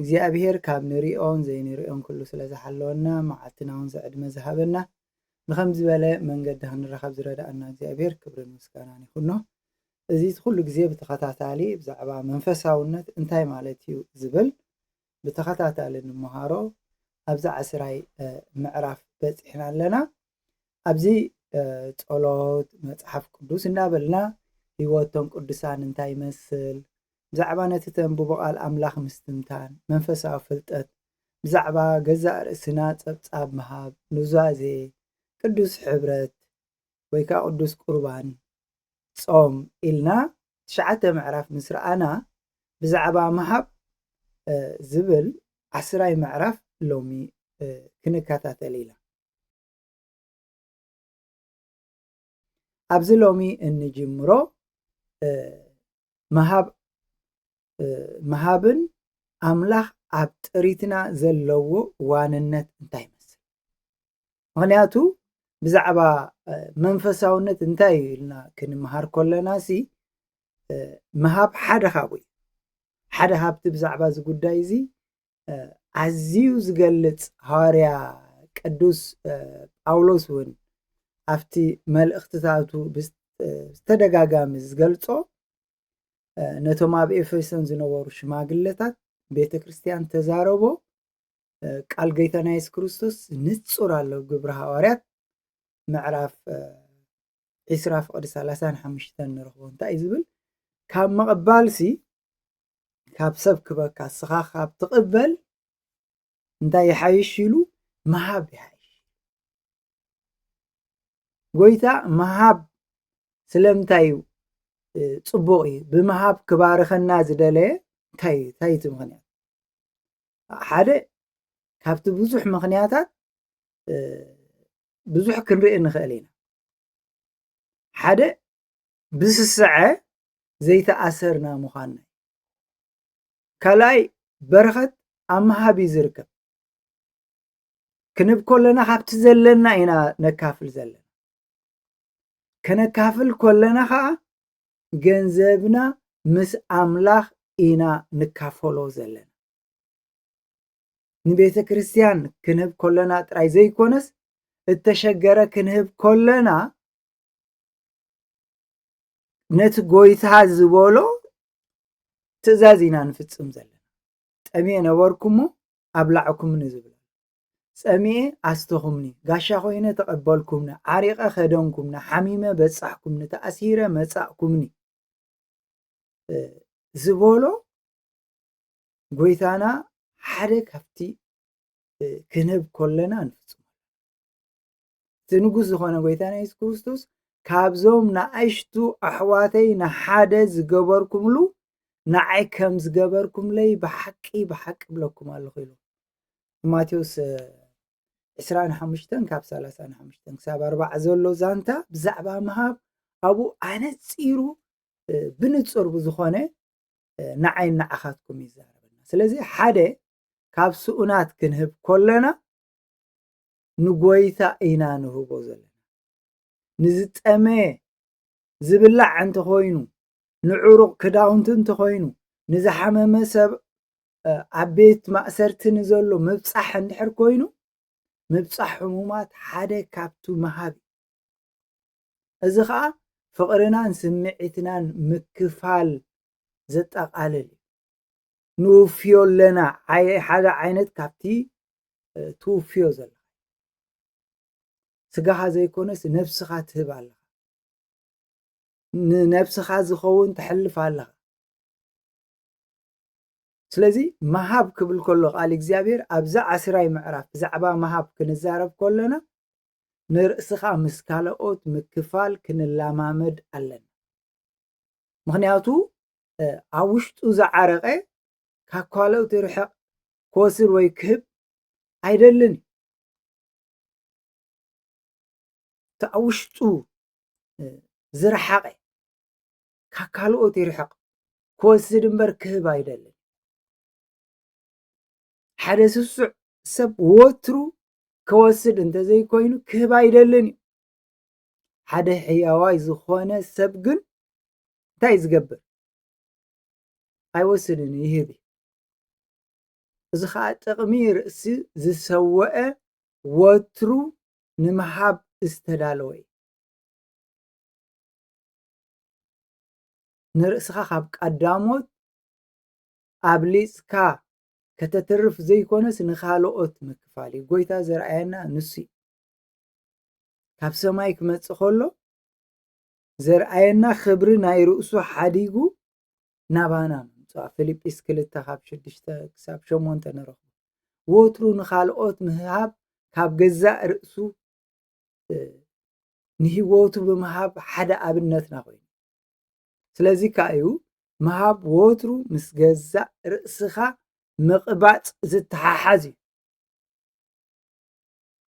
እግዚኣብሄር ካብ ንሪኦን ዘይንሪኦን ኩሉ ስለ ዝሓለወና መዓልትና ውን ዝዕድመ ዝሃበና ንከምዚ ዝበለ መንገዲ ክንረከብ ዝረዳኣና እግዚኣብሄር ክብርን ምስጋናን ይኩኖ እዚ ኩሉ ግዜ ብተከታታሊ ብዛዕባ መንፈሳውነት እንታይ ማለት እዩ ዝብል ብተከታታሊ ንመሃሮ ኣብዚ ዓስራይ ምዕራፍ በጺሕና ኣለና ኣብዚ ጸሎት መጽሓፍ ቅዱስ እንዳበልና ህይወቶም ቅዱሳን እንታይ ይመስል ብዛዕባ ነቲ ተንብቦ ቓል ኣምላኽ ምስትንታን፣ መንፈሳዊ ፍልጠት፣ ብዛዕባ ገዛእ ርእስና ጸብጻብ ምሃብ፣ ኑዛዜ፣ ቅዱስ ሕብረት ወይ ከኣ ቅዱስ ቍርባን፣ ጾም ኢልና ትሽዓተ ምዕራፍ ምስ ረኣና ብዛዕባ ምሃብ ዝብል ዓስራይ ምዕራፍ ሎሚ ክንከታተል ኢና። ኣብዚ ሎሚ እንጅምሮ ምሃብ ምሃብን ኣምላኽ ኣብ ጥሪትና ዘለዎ ዋንነት እንታይ ይመስል? ምክንያቱ ብዛዕባ መንፈሳውነት እንታይ እዩ ኢልና ክንምሃር ከለና ሲ ምሃብ ሓደ ካብኡ እዩ ሓደ ካብቲ ብዛዕባ እዚ ጉዳይ እዚ ኣዝዩ ዝገልጽ ሃዋርያ ቅዱስ ጳውሎስ እውን ኣብቲ መልእኽትታቱ ብዝተደጋጋሚ ዝገልጾ ነቶም ኣብ ኤፌሶን ዝነበሩ ሽማግለታት ቤተ ክርስቲያን ተዛረቦ ቃል ጎይታና የሱስ ክርስቶስ ንጹር ኣሎ ግብሪ ሃዋርያት ምዕራፍ ዒስራ ፍቕዲ ሰላሳን ሓሙሽተን ንረኽቦ እንታይ እዩ ዝብል ካብ ምቕባልሲ ካብ ሰብ ክበካ ስኻ ካብ ትቕበል እንታይ ይሓይሽ ኢሉ ምሃብ ይሓይሽ ጎይታ ምሃብ ስለምንታይ እዩ ፅቡቕ እዩ ብምሃብ ክባርኸና ዝደለየ እንታይ እዩ እንታይ እቲ ምክንያት ሓደ ካብቲ ብዙሕ ምክንያታት ብዙሕ ክንርኢ ንኽእል ኢና። ሓደ ብስስዐ ዘይተኣሰርና ምዃን ካልኣይ በረኸት ኣብ ምሃብ እዩ ዝርከብ ክንብ ኮለና ካብቲ ዘለና ኢና ነካፍል ዘለና ከነካፍል ኮለና ከዓ ገንዘብና ምስ ኣምላኽ ኢና ንካፈሎ ዘለና ንቤተ ክርስቲያን ክንህብ ኮለና ጥራይ ዘይኮነስ እተሸገረ ክንህብ ኮለና ነቲ ጎይታ ዝበሎ ትእዛዝ ኢና ንፍጽም ዘለና ጠሚኤ ነበርኩሞ ኣብላዕኩምኒ ዝብል ጸሚኤ ኣስተኹምኒ ጋሻ ኮይነ ተቐበልኩምኒ ዓሪቐ ከደንኩምኒ ሓሚመ በጻሕኩምኒ ተኣሲረ መጻእኩምኒ ዝበሎ ጎይታና ሓደ ካብቲ ክንህብ ኮለና ንፍፅሞ እቲ ንጉስ ዝኾነ ጎይታና የሱስ ክርስቶስ ካብዞም ንኣሽቱ ኣሕዋተይ ንሓደ ዝገበርኩምሉ ንዓይ ከም ዝገበርኩምለይ ብሓቂ ብሓቂ ብለኩም ኣለኹ ኢሉ ማቴዎስ 25 ካብ 35 ክሳብ 40 ዘሎ ዛንታ ብዛዕባ ምሃብ ኣብኡ ኣነፂሩ ብንፁር ብዝኾነ ንዓይ ንዓኻትኩም ይዛረበና ስለዚ ሓደ ካብ ስኡናት ክንህብ ኮለና ንጎይታ ኢና ንህቦ ዘለና ንዝጠመየ ዝብላዕ እንተኾይኑ ንዕሩቕ ክዳውንቲ እንተኾይኑ ንዝሓመመ ሰብ ኣብ ቤት ማእሰርቲ ንዘሎ ምብፃሕ እንድሕር ኮይኑ ምብፃሕ ሕሙማት ሓደ ካብቱ ምሃብ እዚ ኸኣ ፍቕርናን ስምዒትናን ምክፋል ዘጠቓልል እዩ። ንውፍዮ ኣለና፣ ሓደ ዓይነት ካብቲ ትውፍዮ ዘለኻ ስጋኻ ዘይኮነስ ነብስኻ ትህብ ኣለኻ ንነብስኻ ዝኸውን ተሕልፍ ኣለኻ ስለዚ መሃብ ክብል ከሎ ቃል እግዚኣብሔር ኣብዛ ዓስራይ ምዕራፍ ብዛዕባ መሃብ ክንዛረብ ከለና ንርእስኻ ምስ ካልኦት ምክፋል ክንላማመድ ኣለና ምኽንያቱ ኣብ ውሽጡ ዝዓረቀ ካብ ካልኦት ርሕቅ ክወስድ ወይ ክህብ ኣይደልን እዩ እቲ ኣብ ውሽጡ ዝረሓቐ ካብ ካልኦት ይርሕቕ ክወስድ እምበር ክህብ ኣይደልን ሓደ ስሱዕ ሰብ ወትሩ ከወስድ እንተዘይኮይኑ ክህብ ኣይደልን እዩ ሓደ ሕያዋይ ዝኾነ ሰብ ግን እንታይ ዝገብር ኣይወስድን ይህብ እዩ እዚ ከዓ ጥቕሚ ርእሲ ዝሰወአ ወትሩ ንምሃብ ዝተዳለወ እዩ ንርእስኻ ካብ ቀዳሞት ኣብሊፅካ ከተትርፍ ዘይኮነስ ንኻልኦት ምክፋል እዩ። ጎይታ ዘርኣየና ንሱ እዩ። ካብ ሰማይ ክመጽእ ከሎ ዘርኣየና ክብሪ ናይ ርእሱ ሓዲጉ ናባና ምምጽዋ ፊልጲስ ክልተ ካብ ሽዱሽተ ክሳብ ሸሞንተ ንረኽቦ ወትሩ ንኻልኦት ምሃብ ካብ ገዛእ ርእሱ ንህይወቱ ብምሃብ ሓደ ኣብነትና ኮይኑ ስለዚ ከኣ እዩ ምሃብ ወትሩ ምስ ገዛእ ርእስኻ ምቕባጽ ዝተሓሓዝ እዩ።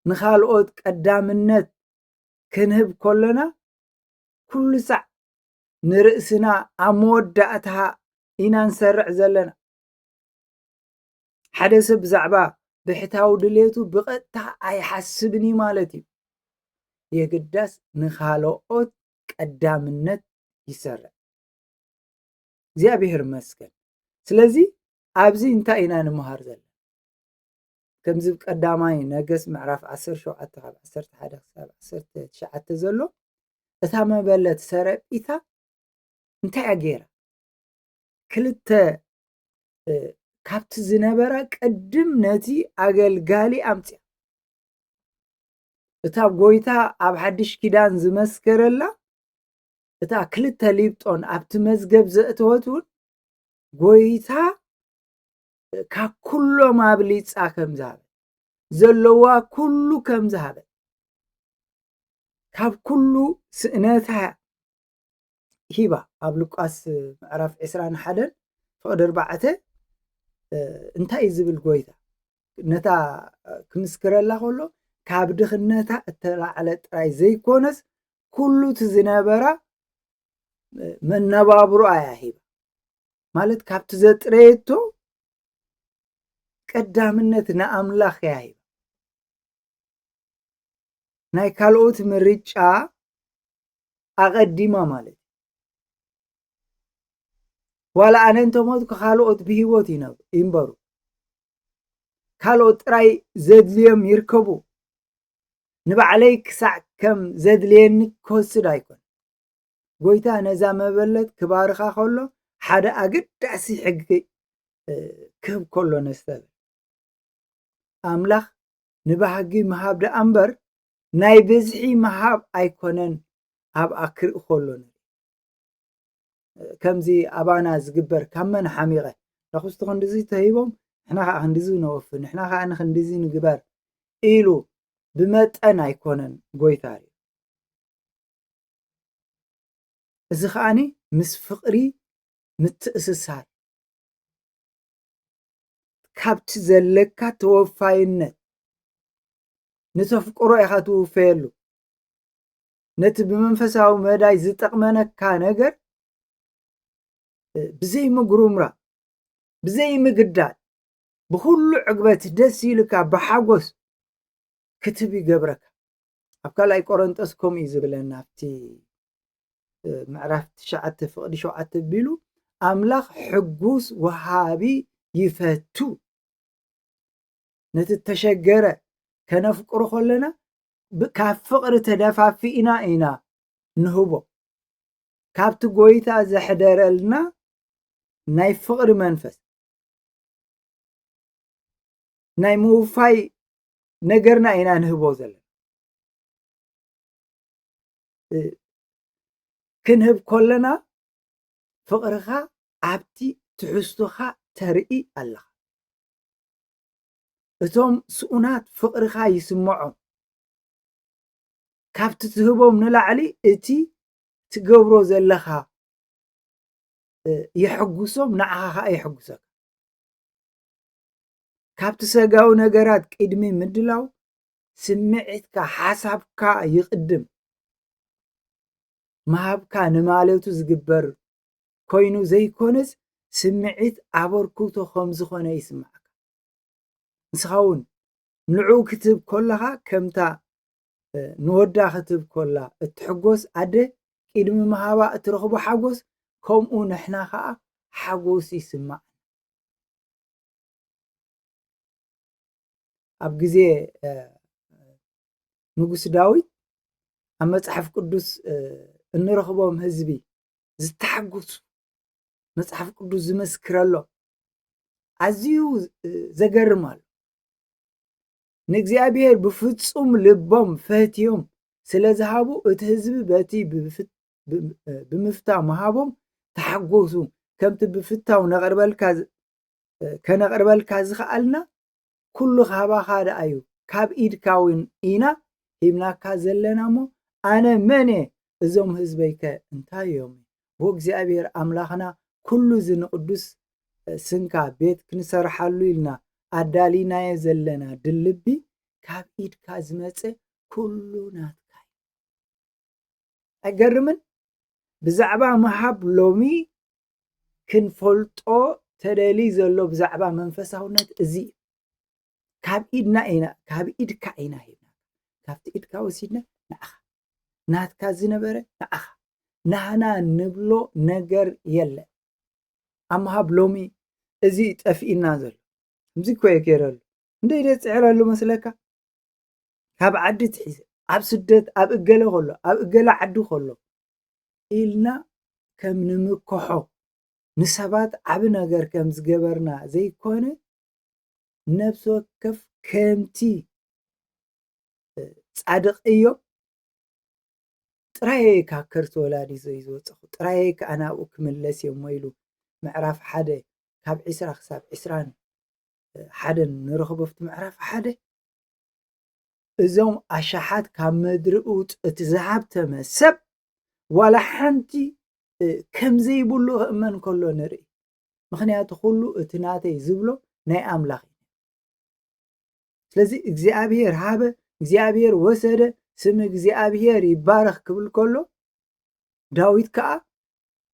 ንኻልኦት ቀዳምነት ክንህብ ከሎና ኩሉ ሳዕ ንርእስና ኣብ መወዳእታ ኢና ንሰርዕ ዘለና። ሓደ ሰብ ብዛዕባ ብሕታዊ ድሌቱ ብቐጥታ ኣይሓስብን እዩ ማለት እዩ። የግዳስ ንኻልኦት ቀዳምነት ይሰርዕ እግዚኣብሔር ይመስገን ስለዚ ኣብዚ እንታይ ኢና ንምሃር ዘለና ከምዚ ቀዳማይ ነገስ ምዕራፍ 17 ካብ 11 ክሳብ 19 ዘሎ እታ መበለት ሰረጲታ እንታይ እያ ገይራ ክልተ ካብቲ ዝነበራ ቅድም ነቲ ኣገልጋሊ ኣምፅያ እታ ጎይታ ኣብ ሓድሽ ኪዳን ዝመስከረላ እታ ክልተ ሊብጦን ኣብቲ መዝገብ ዘእተወት እውን ጎይታ ካብ ኩሎም ኣብሊፃ ከም ዝሃበ ዘለዋ ኩሉ ከም ዝሃበ ካብ ኩሉ ስእነታ ሂባ ኣብ ሉቃስ ምዕራፍ ዕስራን ሓደን ፍቕዲ ኣርባዕተ እንታይ እዩ ዝብል ጎይታ ነታ ክምስክረላ ከሎ ካብ ድኽነታ እተላዕለ ጥራይ ዘይኮነስ ኩሉ እቲ ዝነበራ መነባብሮ ኣያ ሂባ ማለት ካብቲ ዘጥረየቶ ቀዳምነት ንኣምላኽ እያ ሂባ ናይ ካልኦት ምርጫ ኣቐዲማ ማለት እዩ። ዋላ ኣነ እንተሞትኩ ካልኦት ብሂወት ይንበሩ፣ ካልኦት ጥራይ ዘድልዮም ይርከቡ፣ ንባዕለይ ክሳዕ ከም ዘድልየኒ ክወስድ ኣይኮን። ጎይታ ነዛ መበለት ክባርኻ ከሎ ሓደ ኣገዳሲ ሕጊ ክህብ ከሎ ነስተብህል። ኣምላኽ ንባህጊ ምሃብ ደኣ እምበር ናይ ብዝሒ ምሃብ ኣይኮነን ኣብኣ ክርኢ ከሎ ከምዚ ኣባና ዝግበር ካብ መን ሓሚቐ ዳኹስቲ ክንድዚ ተሂቦም ንሕና ከዓ ክንድዚ ነወፊ ንሕና ከዓ ንክንድዚ ንግበር ኢሉ ብመጠን ኣይኮነን ጎይታ እዩ እዚ ከዓኒ ምስ ፍቕሪ ምትእስሳር ካብቲ ዘለካ ተወፋይነት ንተፍቅሮ ኢኻ ትውፈየሉ ነቲ ብመንፈሳዊ መዳይ ዝጠቕመነካ ነገር ብዘይ ምጉርምራ ብዘይ ምግዳል ብኩሉ ዕግበት ደስ ኢልካ ብሓጎስ ክትብ ይገብረካ ኣብ ካልኣይ ቆረንጦስ ከምኡ እዩ ዝብለና ኣብቲ ምዕራፍ ትሽዓተ ፍቕዲ ሸውዓተ ቢሉ ኣምላኽ ሕጉስ ወሃቢ ይፈቱ ነቲ እተሸገረ ከነፍቅሮ ከለና ካብ ፍቕሪ ተደፋፊእና ኢና ንህቦ ካብቲ ጎይታ ዘሕደረልና ናይ ፍቕሪ መንፈስ ናይ ምውፋይ ነገርና ኢና ንህቦ ዘለና ክንህብ ከለና ፍቕርኻ ኣብቲ ትሕዝቶኻ ተርኢ ኣለኻ እቶም ስኡናት ፍቕርኻ ይስምዖም ካብቲ ትህቦም ንላዕሊ እቲ ትገብሮ ዘለኻ የሕጉሶም ንዓኻ ከዓ የሕጉሰካ ካብቲ ሰጋዊ ነገራት ቅድሚ ምድላው ስምዒትካ ሓሳብካ ይቕድም ምሃብካ ንማለቱ ዝግበር ኮይኑ ዘይኮነስ ስምዒት ኣበርክቶ ከም ዝኾነ ይስምዓካ። ንስኻ እውን ንዕኡ ክትህብ ኮለኻ ከምታ ንወዳ ክትህብ ኮላ እትሕጎስ ኣደ ቅድሚ ምሃባ እትረኽቦ ሓጎስ ከምኡ ንሕና ከዓ ሓጎስ ይስማዕ ኣብ ግዜ ንጉስ ዳዊት ኣብ መፅሓፍ ቅዱስ እንረኽቦም ህዝቢ ዝተሓጎሱ መጽሓፍ ቅዱስ ዝመስክረሎም ኣዝዩ ዘገርም ኣሎ ንእግዚኣብሔር ብፍጹም ልቦም ፈህትዮም ስለ ዝሃቡ እቲ ህዝቢ በቲ ብምፍታ ምሃቦም ተሓጎሱ ከምቲ ብፍታው ነቕርበልካ ከነቕርበልካ ዝኸኣልና ኩሉ ካባኻ ደኣዩ ካብ ኢድካ ውን ኢና ሂብናካ ዘለና እሞ ኣነ መን እየ እዞም ህዝበይ ከ እንታይ እዮም ብ እግዚኣብሔር ኣምላኽና ኩሉ እዚ ንቅዱስ ስንካ ቤት ክንሰርሓሉ ኢልና ኣዳሊናዮ ዘለና ድልቢ ካብ ኢድካ ዝመጸ ኩሉ ናትካ እዩ ኣይገርምን ብዛዕባ ምሃብ ሎሚ ክንፈልጦ ተደልይ ዘሎ ብዛዕባ መንፈሳውነት እዚ እዩ። ካብ ኢድና ኢና ካብ ኢድካ ኢና ሂብና ካብቲ ኢድካ ወሲድና ንዓኻ ናትካ ዝነበረ ንዓኻ ናህና ንብሎ ነገር የለን ኣብ ምሃብ ሎሚ እዚ ጠፍኢና ዘሎ ከምዚ እኮ እየ ገይረሉ እንደ ኢደ ፅዕረሉ መስለካ ካብ ዓዲ ትሒዘ ኣብ ስደት ኣብ እገለ ከሎ ኣብ እገለ ዓዲ ከሎ ኢልና ከም ንምከሖ ንሰባት ዓቢ ነገር ከም ዝገበርና ዘይኮነ ነብሲ ወከፍ ከምቲ ጻድቅ እዮብ ጥራየይ ካብ ከርሲ ወላዲቱ እዩ ዝወጸኹ ጥራየይ ከኣ ናብኡ ክምለስ እየ እሞ ኢሉ ምዕራፍ ሓደ ካብ ዕስራ ክሳብ ዕስራን ሓደን ንረኽቦ ኣብቲ ምዕራፍ ሓደ እዞም ኣሻሓት ካብ ምድሪ ውጽእት ዝሃብተመ ሰብ ዋላ ሓንቲ ከምዘይብሉ ክእመን ከሎ ንርኢ ምክንያቱ ኩሉ እቲ ናተይ ዝብሎ ናይ ኣምላኽ እዩ ስለዚ እግዚኣብሔር ሃበ እግዚኣብሔር ወሰደ ስም እግዚኣብሔር ይባረኽ ክብል ከሎ ዳዊት ከዓ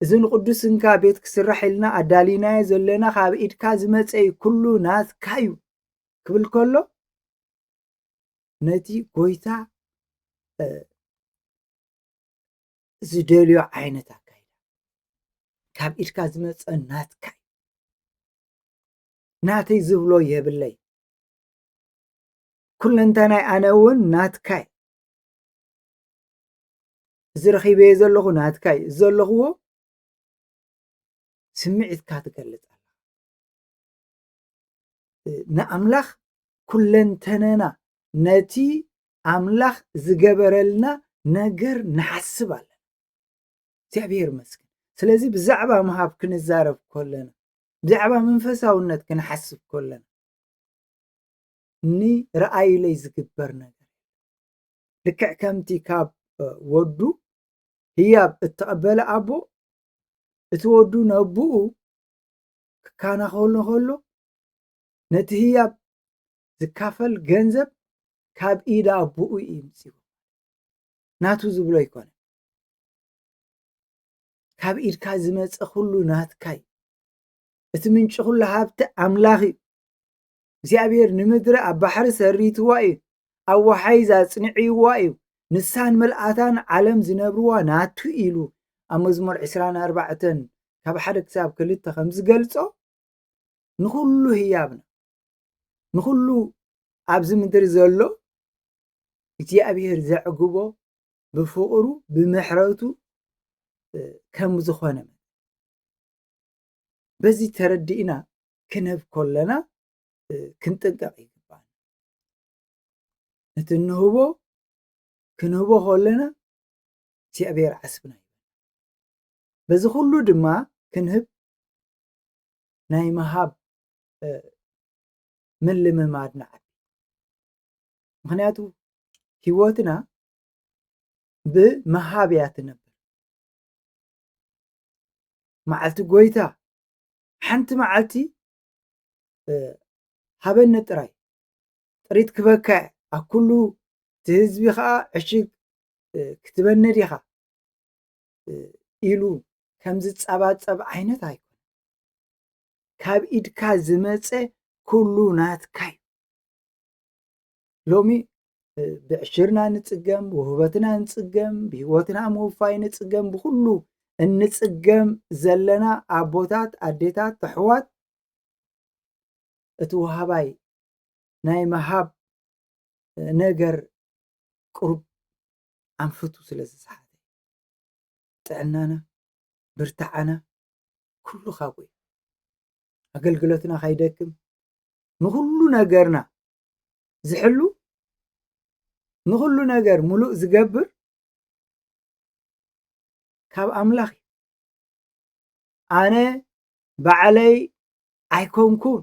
እዚ ንቅዱስ ስንካ ቤት ክስራሕ ኢልና ኣዳሊናዮ ዘለና ካብ ኢድካ ዝመፀ ኩሉ ናትካ እዩ ክብል ከሎ ነቲ ጎይታ ዝደልዮ ዓይነት ኣካይዳ ካብ ኢድካ ዝመፀ ናትካ ናተይ ዝብሎ የብለይ ኩለንተናይ ኣነ እውን ናትካይ እዚ ረኺበየ ዘለኹ ናትካይ ዘለኽዎ ስምዒትካ ትገልፅ ንኣምላኽ ኩለንተነና ነቲ ኣምላኽ ዝገበረልና ነገር ንሓስብ ኣለና እግዚኣብሔር ይመስገን ስለዚ ብዛዕባ ምሃብ ክንዛረብ ኮለና ብዛዕባ መንፈሳውነት ክንሓስብ ኮለና ንረኣዩለይ ዝግበር ነገር ልክዕ ከምቲ ካብ ወዱ ህያብ እተቐበለ ኣቦ እቲ ወዱ ነብኡ ክካናኸሎ ከሎ ነቲ ህያብ ዝካፈል ገንዘብ ካብ ኢድ ኣቦኡ እዩ ምፂዎ ናቱ ዝብሎ ኣይኮነ ካብ ኢድካ ዝመፀ ኩሉ ናትካይ እቲ ምንጪ ኩሉ ሃብቲ ኣምላኽ እዩ እግዚኣብሄር ንምድሪ ኣብ ባሕሪ ሰሪትዋ እዩ፣ ኣብ ወሓይዝ ኣጽኒዕዋ እዩ፣ ንሳን መልኣታን ዓለም ዝነብርዋ ናቱ ኢሉ ኣብ መዝሙር ዕስራን ኣርባዕተን ካብ ሓደ ክሳብ ክልተ ከም ዝገልጾ ንኹሉ ህያብና ንኹሉ ኣብዚ ምድሪ ዘሎ እግዚኣብሄር ዘዕግቦ ብፍቕሩ ብምሕረቱ ከም ዝኾነ በዚ ተረዲእና ክንህብ ኮለና ክንጥንቀቕ ይግባል ነቲ እንህቦ ክንህቦ ኮለና እግዚኣብሔር ዓስብና እዩ በዚ ኩሉ ድማ ክንህብ ናይ ምሃብ ምልምማድ ንዓቢ ምክንያቱ ህይወትና ብምሃብ እያ ትነብር መዓልቲ ጎይታ ሓንቲ መዓልቲ ሃበኒ ጥራይ ጥሪት ክበካ ኣብ ኩሉ እቲ ህዝቢ ከዓ ዕሽግ ክትበኒ ዲኻ ኢሉ ከም ዝፀባፀብ ዓይነት ኣይኮነ ካብ ኢድካ ዝመፀ ኩሉ ናትካ እዩ ሎሚ ብዕሽርና ንፅገም፣ ውህበትና ንፅገም፣ ብሂወትና ምውፋይ ንፅገም፣ ብኹሉ እንፅገም ዘለና ኣቦታት፣ ኣዴታት፣ ኣሕዋት እቲ ወሃባይ ናይ ምሃብ ነገር ቅሩብ ኣንፍቱ ስለ ዝሰሓተ ጥዕናና ብርታዓና ኩሉ ካብኡ እዩ ኣገልግሎትና ከይደክም ንኹሉ ነገርና ዝሕሉ ንኹሉ ነገር ሙሉእ ዝገብር ካብ ኣምላኽ እዩ ኣነ ባዕለይ ኣይኮንኩን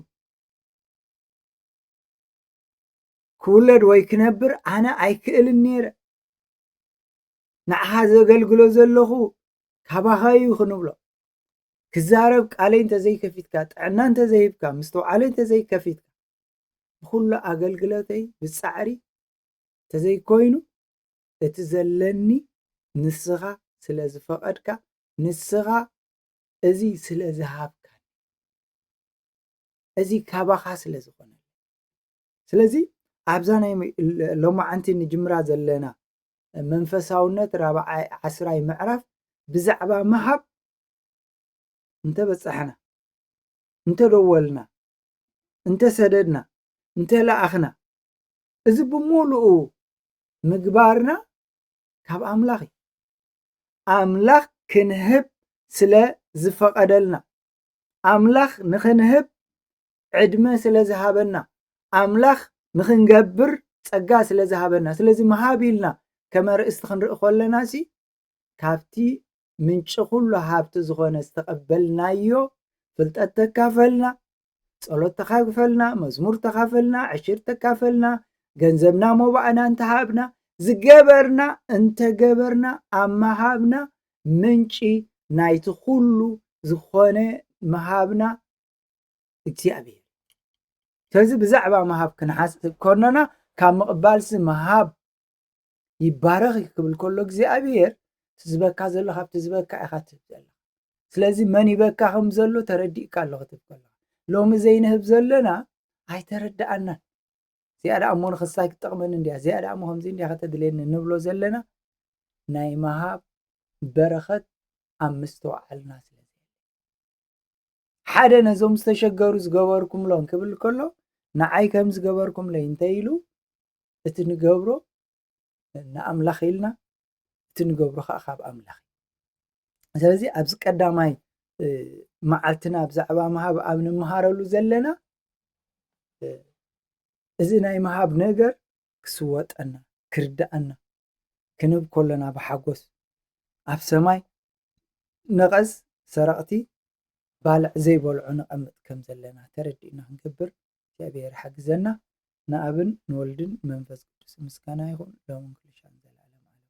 ክውለድ ወይ ክነብር ኣነ ኣይክእልን ነይረ ንዓኻ ዘገልግሎ ዘለኹ ካባኻ እዩ ክንብሎ ክዛረብ ቃለይ እንተዘይከፊትካ ጥዕና እንተዘይሂብካ ምስተውዓለይ እንተዘይከፊትካ ብኹሉ ኣገልግሎተይ ብጻዕሪ እንተዘይኮይኑ እቲ ዘለኒ ንስኻ ስለ ዝፈቐድካ ንስኻ እዚ ስለ ዝሃብካኒ እዚ ካባኻ ስለ ዝኾነ ስለዚ ኣብዛ ናይ ሎማዓንቲ ንጅምራ ዘለና መንፈሳውነት ራብዓይ ዓስራይ ምዕራፍ ብዛዕባ ምሃብ እንተበጻሕና እንተደወልና እንተሰደድና እንተለኣኽና እዚ ብምሉኡ ምግባርና ካብ ኣምላኽ እዩ ኣምላኽ ክንህብ ስለ ዝፈቐደልና ኣምላኽ ንኽንህብ ዕድመ ስለ ዝሃበና ኣምላኽ ንኽንገብር ጸጋ ስለ ዝሃበና ስለዚ መሃብ ኢልና ከመ ርእስቲ ክንርኢ ከለና ሲ ካብቲ ምንጪ ኩሉ ሃብቲ ዝኾነ ዝተቐበልናዮ ፍልጠት ተካፈልና፣ ጸሎት ተኻግፈልና፣ መዝሙር ተኻፈልና፣ ዕሽር ተካፈልና፣ ገንዘብና ሞባእና እንተሃብና፣ ዝገበርና እንተገበርና ኣብ ምሃብና ምንጪ ናይቲ ኩሉ ዝኾነ ምሃብና እግዚኣብሔር ስለዚ ብዛዕባ ምሃብ ክንሓስብ ከሎና ካብ ምቕባልሲ ምሃብ ይባረኽ ክብል ከሎ እግዚኣብሔር ትዝበካ ዘሎ ካብቲ ዝበካ ኢኻ ትህብ ዘለኻ ስለዚ መን ይበካ ከም ዘሎ ተረዲእካ ኣሎ ክትብ ከለኻ ሎሚ ዘይንህብ ዘለና ኣይተረዳኣናን እዚኣ ደኣ እሞ ንክሳይ ክትጠቕመኒ እንዲያ እዚኣ ደኣ እሞ ከምዚ እንዲያ ከተድልየኒ ንብሎ ዘለና ናይ ምሃብ በረኸት ኣብ ምስተውዓልና ስለ ሓደ ነዞም ዝተሸገሩ ዝገበርኩምሎም ክብል ከሎ ንዓይ ከም ዝገበርኩምለይ እንተኢሉ እቲ ንገብሮ ንኣምላኽ ኢልና እቲ ንገብሮ ከዓ ካብ ኣምላኽ እዩ ስለዚ ኣብዚ ቀዳማይ መዓልትና ብዛዕባ ምሃብ ኣብ ንምሃረሉ ዘለና እዚ ናይ ምሃብ ነገር ክስወጠና ክርዳኣና ክንብ ከሎና ብሓጎስ ኣብ ሰማይ ነቐዝ ሰረቕቲ ባልዕ ዘይበልዖ ነቐምጥ ከም ዘለና ተረዲእና ክንገብር እግዚኣብሔር ሓግዘና ንኣብን ንወልድን ንመንፈስ ቅዱስን ምስጋና ይኹን ሎምን ክልሻን ዘልኣለም ኣለም ኣሜን።